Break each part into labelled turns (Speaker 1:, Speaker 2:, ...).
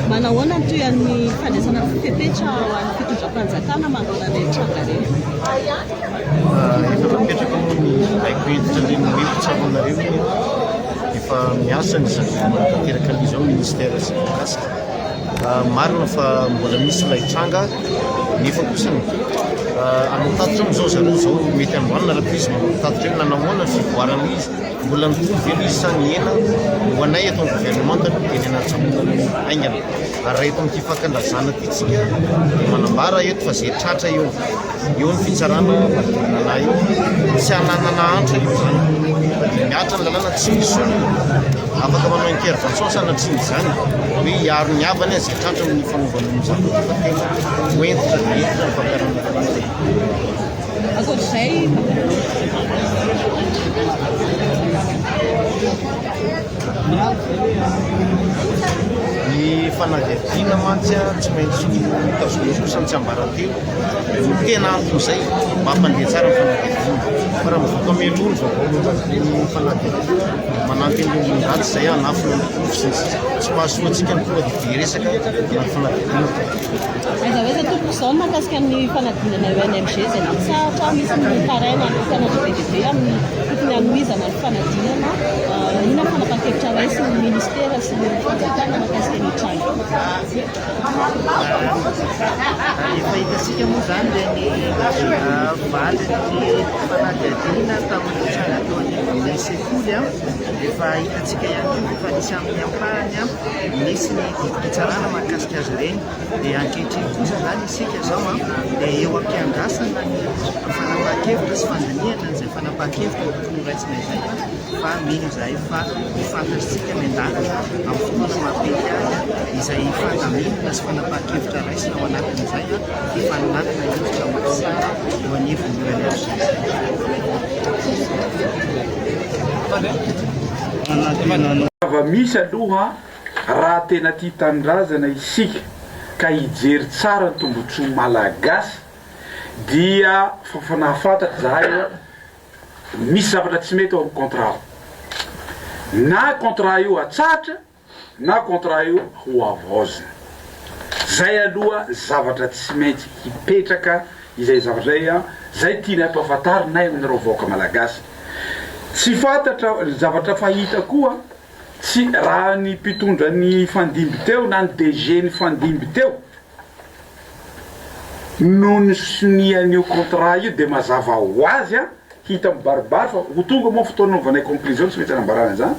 Speaker 1: Manahoana ny
Speaker 2: tohian'ny fandraisana fepetra ho an'ny fitondram-panjakana manoloana an'ireny tranga ireny? Efa napetraka moa ny haiko hentitra ireny hoe mpitsabona ireny. Efa miasa ny zavatra manatanteraka an'izao ny ministera sy ny mikasika. Marina fa mbola misy ilay tranga nefa kosa ny hanao tatitra amin'izao zareo izao mety androany na rahampitso manao tatitra eny na nahoana ny fivoarana izy. Mbola mitovy ve ny isan ny hena ho anay eto amin'ny governemanta aloha dia ny an'ny atsahonana no haingana. Ary raha eto amin'ity fakan-drazana ity tsika dia manambara eto fa izay tratra eo eo ny fitsarana manodidina anay eo. Tsy hananana antra io izany fa dia mihatra ny lalàna tsy misy olona afaka manao intervention sanatria izany hoe hiaro ny havany izay tratra amin'ny fanaovana ny zavatra fa tena ho hentitra dia hentitra ny fampiharana ny lalàna. Ny fanadihadiana mantsy tsy maintsy notazomina kosa ny tsiambaratelo no tena anton'izay mba hampandeha tsara ny fanadihadiana. Fa raha mivoaka mialoha ny vaovao momba an'ireny fanadihadiana, manampy an'ireo olon-dratsy izay hanafina ny porofo sy ny sisa. Tsy mahasoa antsika ny tonga dia be resaka na ny fanadihadiana. Aiza
Speaker 1: ho aiza tompoko izao ny mahakasika ny fanadinana eo NMG izay nampitsahatra, misy ny tarainy hanokana ny VDB amin'ny tokony hanohizana ny fanadinana, inona ny fanapahan-kevitra raisiny ny ministera sy ny fanjakana mahakasika ny tranga.
Speaker 3: Efa hitantsika moa izany dia ny valin'ny fanadihadiana tamin'ny tranga teo anivon'ny sekoly an, efa hitantsika ihany koa efa nisy amin'ny ampahany an, nisy ny didim-pitsarana mahakasika azy ireny dia ankehitriny kosa izany isika izao an dia eo am-piandrasana ny fanapahan-kevitra sy fandinihana an'izay fanapahan-kevitra tokony horaisina izay fa mino izahay fa ho fantatr'isika ny an-dalana amin'ny fotoana mahamety azy izay fandaminana sy fanapahan-kevitra raisina ao anatin'izay an ny fanananana hevitra mahasara eo anivon'ny
Speaker 4: UNFJC. Zava-misy aloha Raha tena tia tanindrazana isika ka hijery tsara ny tombotsoa malagasy dia fafana fantatra zahay oa misy zavatra tsy mety ao am contrat na contrat io atsahatra na contrat io ho avaozina zay aloha zavatra tsy maintsy hipetraka izay zavatra zay an zay tianay ampafantarinay aminareo vahoaka malagasy tsy fantatra zavatra fahita koa Tsy raha ny mpitondra ny hifandimby teo na ny DG nifandimby teo no nisonia an'io contrat io dia mazava ho azy an, hita mibaribary fa ho tonga moa ny fotoana hanaovanay conclusion tsy maintsy hanambarana izany,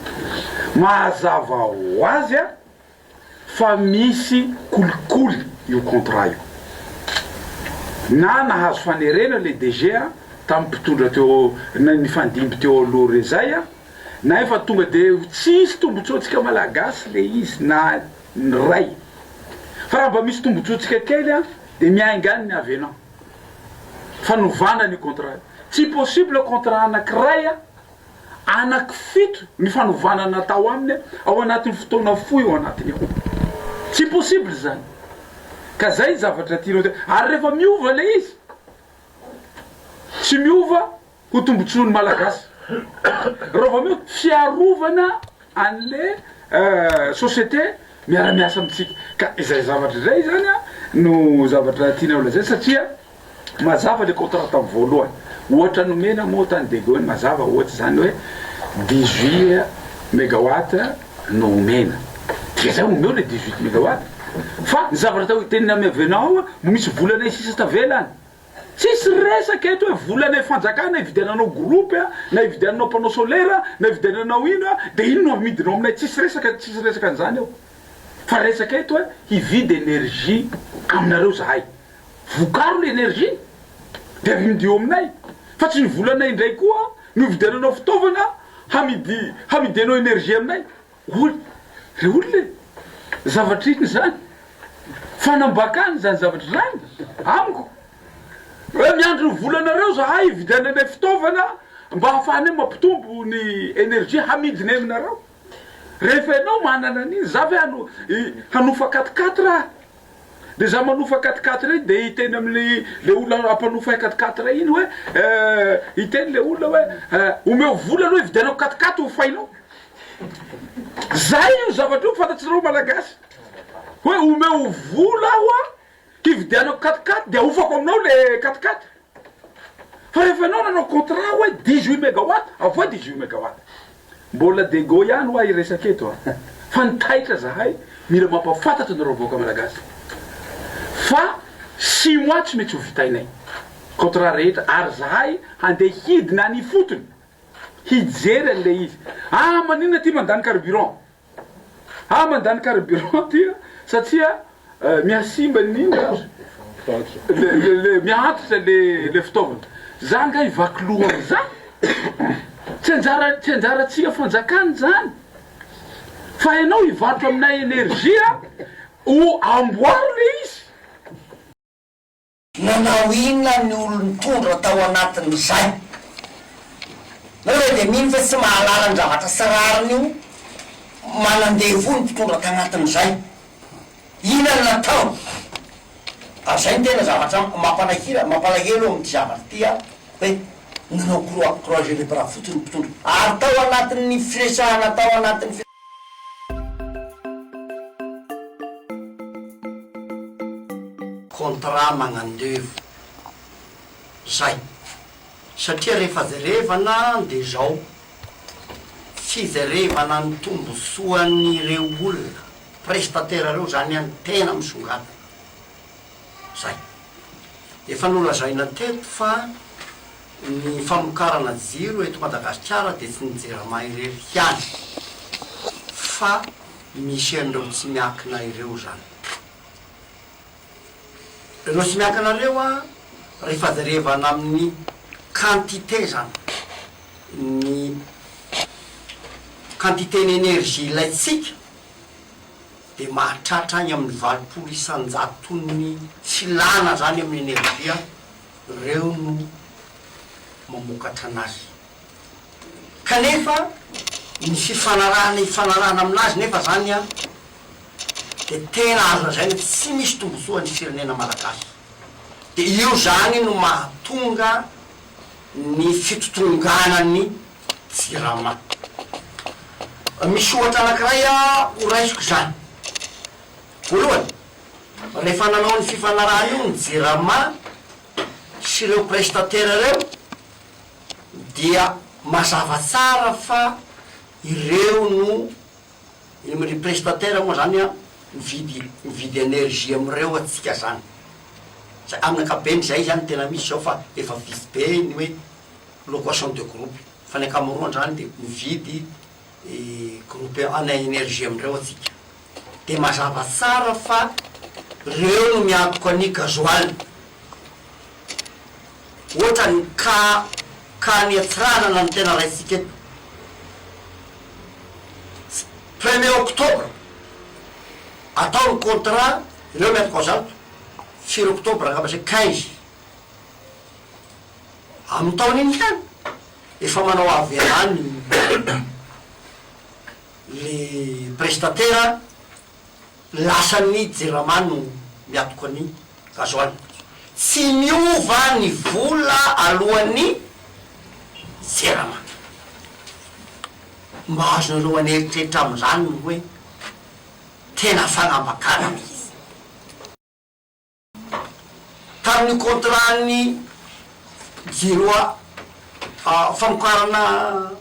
Speaker 4: mazava ho azy an, fa misy kolikoly io contrat io na nahazo fanerena le DG tam mpitondra teo nifandimby teo aloha re zay a na efa tonga de tsisy tombotsoantsika malagasy le izy na ny ray fa raha mba misy tombotsoantsika kely a de miainga any ny avenant fanovana ny contrat tsy possible contrat anakiray a Anaky fito ny fanovana natao aminy ao anatin'ny fotoana fohy ao anatiny ao. Tsy possible izany. Ka izay ny zavatra tianao te-. Ary rehefa miova ilay izy, tsy miova ho tombontsoan'ny Malagasy. Raha vao miova, fiarovana anle société miara-miasa amintsika ka izay zavatra izay zany a no zavatra tianay holazaina satria mazava le contrat tam voalohany ohatra nomena moa tany Begony mazava ohatra zany hoe dix huit megawatt no omena dia zay omeo le dix huit megawatt fa ny zavatra atao teninay miavena ao a mbo misy volanay sisa tavela any Tsisy resaka eto hoe vola lay fanjakana ividiananao groupe a, na ividiananao panneau solaire a, na ividiananao ino a, de iny no amidinao aminay tsisy resaka tsisy resaka an'izany eo. Fa resaka eto hoe hividy energie aminareo zahay. Vokaro le energie de avidio aminay fa tsy ny volanay indray koa no ividiananao fitaovana hamidy hamidianao energie aminay. Hoy ilay olona e, zavatra inona izany? Fanambakana izany zavatra izany amiko. Raha miandry ny volanareo izahay hividiananay fitaovana mba hahafahanay mampitombo ny energie hamidinay aminareo. Rehefa ianao manana an'iny, izaho ve hanofa quatre quatre aho? Dia izaho manofa quatre quatre iny dia hiteny amin'ilay olona hampanofay quatre quatre iny hoe, hiteny ilay olona hoe, omeo vola aloha hividianako quatre quatre hofainao. Zay io zavatra io fantatsreo malagasy hoe omeo vola aho a hividianako quat-quatre de ahofako aminao le quat-quatre fa rehefa enao nanao contrat hoe dix huit megawatt avoay dix huit megawatt mbola dego ihany hoa hiresaka eto a fa ny taitra zahay mila mampafantatra anareo vahoaka malagasy fa six mois tsy mety ho vitainay contrat rehetra ary zahay handeha hidina any ifotony hijery an'ilay izy. Ah maninona ity mandany carburant? Ah mandany carburant ity an, satria mihasimba ny le le mihaantitra le le fitaovana. Za nga hivaky loha am'zany? Tsy anjara tsy anjarantsika fanjakana zany. Fa ianao hivarotra aminay energie an, o amboary le izy.
Speaker 5: Nanao inona ny olon-tondro tao anatin'izay? Moa ve dia mino fa tsy mahalala ny zavatra sy rariny io manan-devoly ny mpitondra tagnatin'izay? Inona no nataony? Ary izay no tena zavatra mampalahila, mampalahelo amin'ity zavatra ity an, hoe nanao croix croisée le bras fotsiny ny mpitondra, ary tao anatin'ny firesahana tao anatin'ny. Contrat magnandevo zay satria rehefa jerevana de zao, fijerevana ny tombontsoan'ireo olona, prestataire reo zany an, tena misongadina. Zay. Efa nolazaina teto fa ny famokarana jiro eto Madagasikara dia tsy ny Jirama irery ihany fa misy an'ireo tsy miankina ireo izany. Ireo tsy miankina ireo an, rehefa jerevana amin'ny quantité izany, ny quantité-n'energie ilaintsika, dia mahatratra any amin'ny valopolo isan-jaton'ny filana izany amin'ny energia ireo no mamokatra anazy. Kanefa ny fifanarahana ifanarahana aminazy nefa izany dia tena azo lazaina hoe tsy misy tombontsoa ny firenena malagasy. Dia io izany no mahatonga ny fitotonganan'ny. Jirama. Misy ohatra anankiray ho raisiko izany. Voalohany, rehefa nanao ny fifanarahana io ny Jirama sy ireo prestataires ireo dia mazava tsara fa ireo no, ry prestataires moa izany an, mividy mividy energie amin'ireo antsika izany. Izay, amin'ny ankapobeny izay izany no tena misy izao fa efa vitsy be ny hoe. location de groupe fa ny ankamaroan-drany dia mividy groupe en energie amin-dreo atsika dia mazava tsara fa reo no miantoka an'i gasoil otrany ka ka ny antsiranana no tena raisitsika eto premier octobre atao ny contrat reo miantoka ao zato firy octobre angamba zay quinze Amin-taona iny ihany, efa manao avy hatrany le prestatera lasan'ny jirama no miatoka ny gasoil. Tsy miova ny vola aloan'ny jirama. Mba azonareo an'eritreritra amin'izany ny hoe tena fanambakana mihitsy. tamin'ny contrat-n'ny Giro famokarana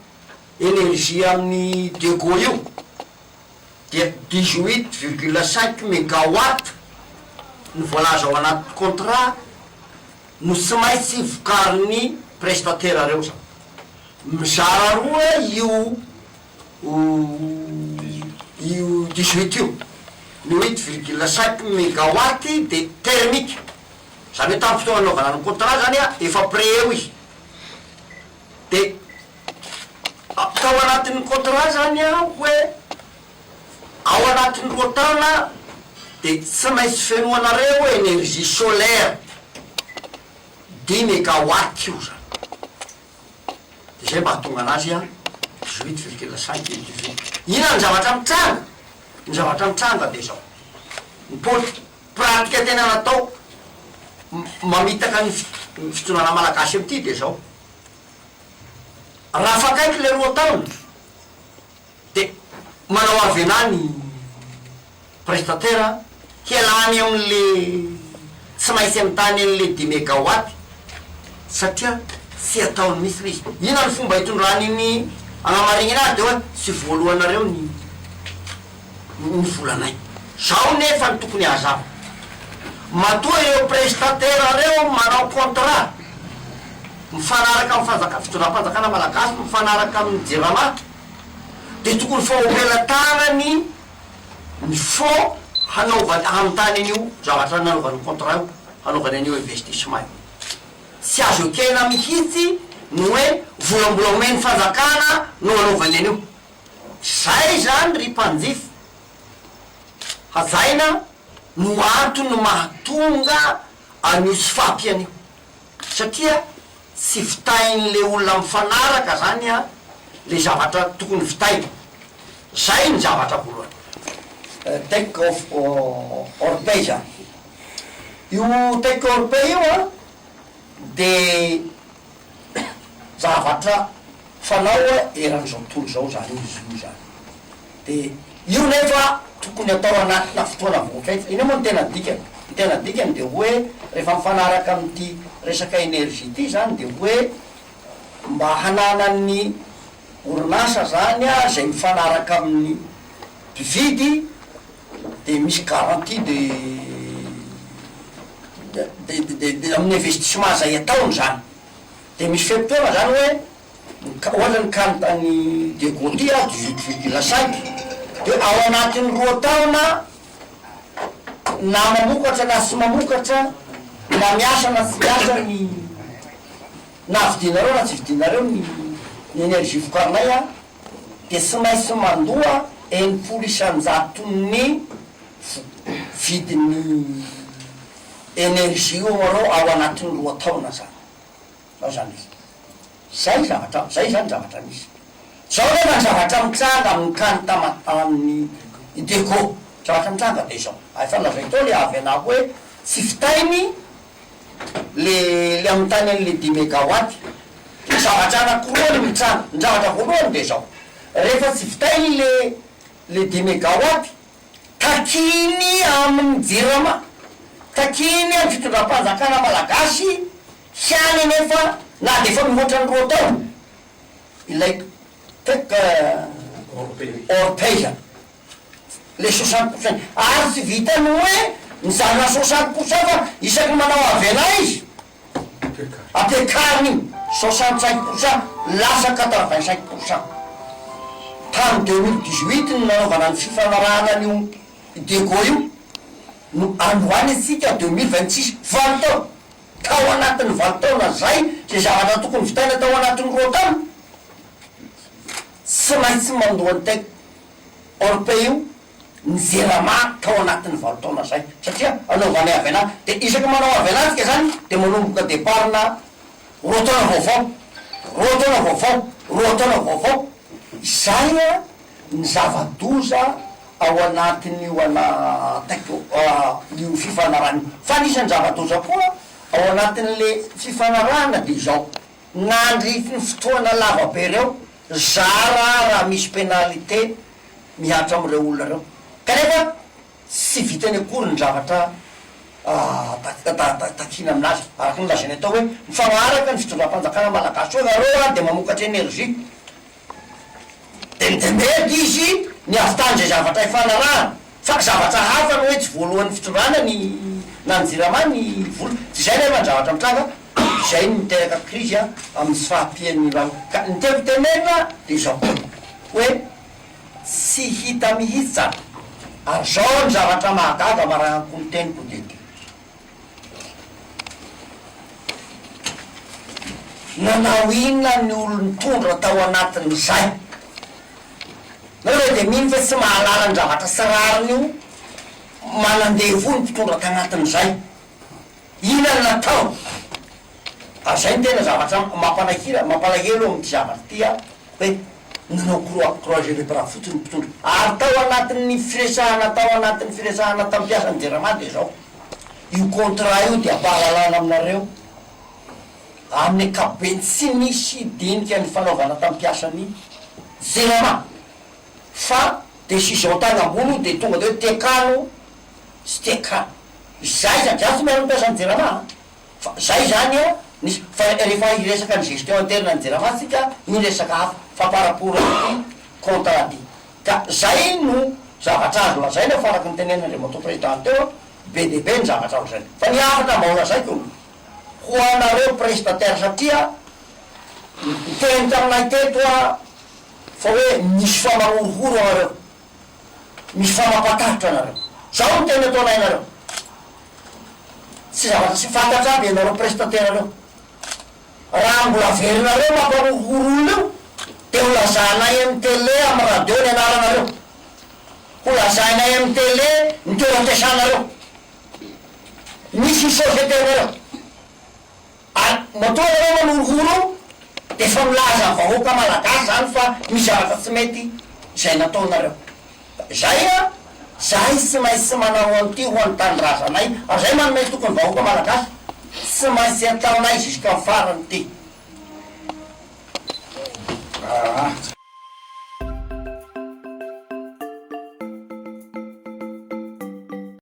Speaker 5: énergie amin'ny Dego io dia dix huit virgule cinq megawatt ny voalaza ao anaty contrat no tsy maintsy vokarin'ny prestataire reo zany mizara roa io ho io dix-huit io. Ny huit virgule cinq megawatt dia thermique, izany hoe tamin'ny fotoana nanaovana ny contrat izany efa près eo izy. Dia tao anatin'ny contrat izany hoe ao anatin'ny roa taona dia tsy maintsy fenoanareo énergie solaire, dix megawatt io izany. izay mahatonga anazy a Juit virgule cinq et du vide. Inona ny zavatra mitranga? Ny zavatra mitranga dia izao, ny poli, pratika tena natao mamitaka ny ny fitondrana malagasy amin'ity dia izao, raha afakaiky ilay roa taona, Dia manao avelà ny prestataire hialany amin'ilay tsy maintsy mitàny an'ilay dimy megawatt satria tsy ataony mihitsy ilay izy. Inona ny fomba hitondrany ny hanamarinana azy dia hoe tsy voaloanareo ny ny volanay. Izao nefa no tokony hazava. Matoa ireo prestataire ireo manao contrat mifanaraka amin'ny fanjaka fitondram-panjakana malagasy mifanaraka amin'ny jirama, dia tokony faompiana tanany ny fonds hanaovany hanontany an'io zavatra nanaovany ny contrat io, hanaovany an'io investissement io. Tsy azo ekena mihitsy ny hoe vola mbola omen'ny fanjakana no anaovany an'io. Izay izany ry mpanjifa hajaina no antony mahatonga an'io tsy fahampiana io. Satria tsy vitain'le olona mifanaraka zany a le zavatra tokony vitaina. Zay ny zavatra voalohany. Take of or pay zany. Io take or pay io a de zavatra fanao eran'izao tontolo izao zany izy io zany. Dia io nefa tokony atao anatina fotoana voafetra. Inona moa no tena dikany? Ny tena dikany dia hoe rehefa mifanaraka amin'ity resaka énergie ity izany dia hoe mba hananan'ny orinasa izany izay mifanaraka amin'ny mpividy dia misy garantie de de de de de amin'ny investissement izay ataony izany. Dia misy fe-potoana izany hoe. Ka hoana ny kalo tany de Gondi a dix huit virgule cinq de ao anatin'ny roa taona na mamokatra na tsy mamokatra na miasa na tsy miasa ny na vidinareo na tsy vidinareo ny ny energie vokarinay a de tsy maintsy mandoa enimpolo isanjaton'ny vo vidin'ny energie omarao ao anatin'ny roa taona zany. Zao izany izy. Izay zavatra, izay izany ny zavatra nisy. Izao nefa ny zavatra mitranga amin'ny tany taman-tanin'i Ideco. Ny zavatra mitranga dia izao. Ary efa nolazaiko teo ilay Avena hoe tsy vitainy ilay ilay amin'ny tany an'ilay dimy megawatt. Dia zavatra anankiroa no mitranga. Ny zavatra voalohany dia izao, rehefa tsy vitainy ilay ilay dimy megawatt, takiany amin'ny Jirama, takiany amin'ny fitondram-panjakana malagasy, Tsy any anefa na dia efa mihoatra ny roa taona ilay Peup Orpea ilay soixante pour cent ary tsy vitan'ny hoe mizara soixante pour cent fa isaky ny manao avena izy ampiakariny iny soixante cinq pour cent lasa quatre vingt cinq pour cent tamin'ny deux mille dix huit no nanaovana ny fifanarahana an'io Idego io no androany antsika deux mille vingt six valo taona Tao anatin'ny valo taona izay, izay zavatra tokony vitaina tao anatin'ny roa taona, tsy maintsy mandoa ny tête hors pays io ny Jirama tao anatin'ny valo taona izay, satria anaovanay avenant, dia isaky ny manao avenant tsika izany dia manomboka départ-na roa taona vaovao, roa taona vaovao, roa taona vaovao, izay an! ny zava-doza ao anatin'io alahataiko io fifanarahana io. Fa anisan'ny zava-doza koa ao anatin'le fifanarahana dia izao, nandritry ny fotoana lava be ireo, zara raha misy pénalité mihatra amin'ireo olona ireo, kanefa tsy vitany akory ny zavatra takiana amin'azy, araka ny lazainay tao hoe, mifagnaraka ny fitondram-panjakana malagasy hoe nareo ary dia mamokatra énergie, Entembeto izy ny havitan' izay zavatra ifanarahana, fa zavatra hafa ny hoe tsy voalohan'ny fitondrana ny na ny jirama ny vola, dia izay nefa ny zavatra mitranga, izay no miteraka krizy amin'ny tsy fahampian'ny lalana. Ka ny tiako tenenina dia izao hoe tsy hita mihitsy izany, ary izao ny zavatra mahagaga marahan-ko ny teniko dia. Nanao inona ny olon-tondro tao anatin'izay? Nareo dia mino fa tsy mahalala ny zavatra tsy rariny io? Manan-devoly ny mpitondra tagnatin'izay. Inona no nataony? Ary izay no tena zavatra mampalahila, mampalahelo amin'ity zavatra ity an, hoe nanao croix, croix gelée bras fotsiny ny mpitondra. Ary tao anatin'ny firesahana, tao anatin'ny firesahana tam-piasan'ny jirama dia izao. Io contrat io dia ampahalalana aminareo amin'ny ankapobeny tsy misy dinika nifanaovana tamin'ny mpiasan'ny jirama fa decision tany ambony io dia tonga dia hoe tekano sy tekano izay izany, za tsy miaro ny mpiasan'ny jirama a, fa zay izany a, nisy fa rehefa hiresaka ny gestion interne ny jirama tsika io resaka hafa fa par rapport amin'ny contrat dia Ka zay no zavatra azo lazaina fa araka ny tenen'Andriamatoa Prezidant teo an, be dia be ny zavatra ao izay. Fa ny hafatra mba holazaiko ho anareo prestataires satria niteny taminay teto an fa hoe misy fa mahorohoro anareo, misy fa mampatahotra anareo. Zao ny teny ataonay anareo, tsy zavatra tsy fantatra aby ianareo prestataires reo. Raha mbola averinareo mampahorohoro olona io dia ho lazanay amin'ny tele amin'ny radio ny anaranareo. Ho lazainay amin'ny tele ny toeram-piasanareo. Misy société nareo. Ary matoa ianareo manorohoro dia efa milaza amin'ny vahoaka malagasy izany fa misy zavatra tsy mety izay nataonareo. Zay a! Zahay tsy maintsy manao an'ity ho an'ny tanindrazanay ary zay manome toky ny vahoaka malagasy. Tsy maintsy ataonay jusqu'en farany ity. Aa.